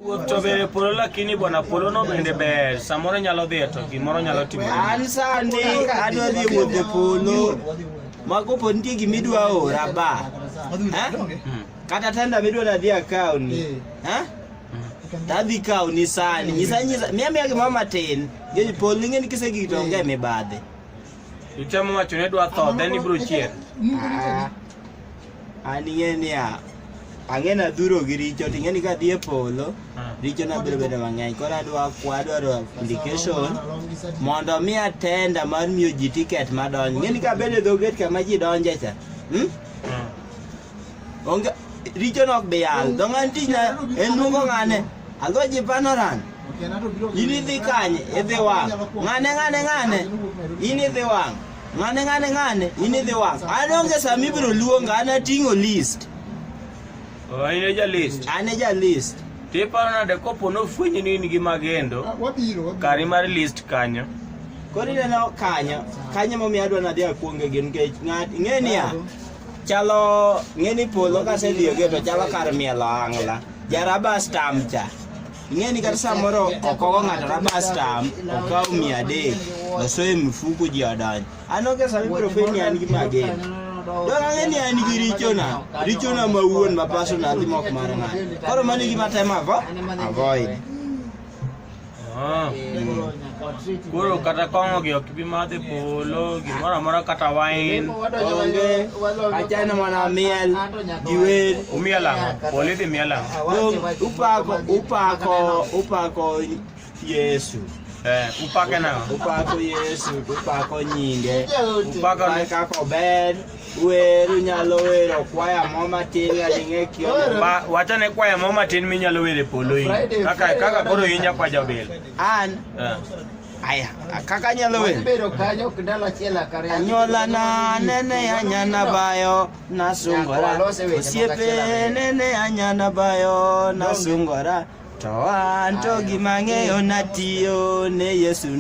Wuoth to be polo lakini bwana polo no bende ber samoro nyalo dhi to gimoro nyalo timo. An sani adwa dhi wuoth e polo. Mago pod nitie gima idwa ora ba. Hmm. Kata tenda midwa nadhi akawni. Ha? Hmm. Tadhi kawni sani. Nyisa nyisa miya miya gimoro matin. Gej polo ng'eni kisegik to onge mibadhi. Ichamo wacho ne dwa tho then ibro chier. an ing'e niya ang'e nadhuro gi richo to ing'eni kadhi e polo richo nabiro bedo mang'eny koro adwa kwa adwaro application mondo mi atenda mar miyo ji tiket madonjo ing'eni kabedo e dho gate kama ji donje cha hmm? onge richo nok bi yal dho ng'ani tichna en luongo ng'ane adho ji panoran in idhi kanye idhi wang' ng'ane ng'ane ng'ane in idhi wang' Ng'ane ng'ane ng'ane ini dhi wang'. An onge sama ibiro luonga, an ating'o list. Oh, in e ja list. An e ja list. Tiparo nade kopo nofwenyi ni in gi magendo ah, kari mar list kanyo. Koro ineno kanyo, kanyo momiyo adwa nadhi akwonge gin nikech ng'at ing'e niya chalo ng'e ni polo kasedhiyoge to chalo kar mielo ang'la jaraba stamcha Ing'e ni kata samoro okogo ng'ato raba stam okaw mia adek osoyo e mifuku ji odonj. An onge sama ibiro fwenyo ni an gi magen. Dong ang'e ni an gi richona, richona ma wuon ma personal timo ok mar ng'ato. Koro mano e gima atemo avo- avoid. Ah. Koro kata kong'o gi ok bi madhe polo gimoro amora kata wine. Onge achana mana miel gi wer. Umiel ang'o? Polo idhi miel ang'o? Upako upako upako Yesu. Eh, upake nang'o? Upako Yesu, upako nyinge. Upako ni kaka ober. Wer unyalo wero kwaya mo matin ng'ading'e kio. Wachane kwaya mo matin minyalo were polo in. Kaka kaka koro in jakwa jabel. An eh. aya kaka nyalo wer bedo kanyo kidalo achiel akare anyola na nene anyana bayo nasungora osiepe nene anyana bayo nasungora to an to gima ng'eyo natiyo ne Yesu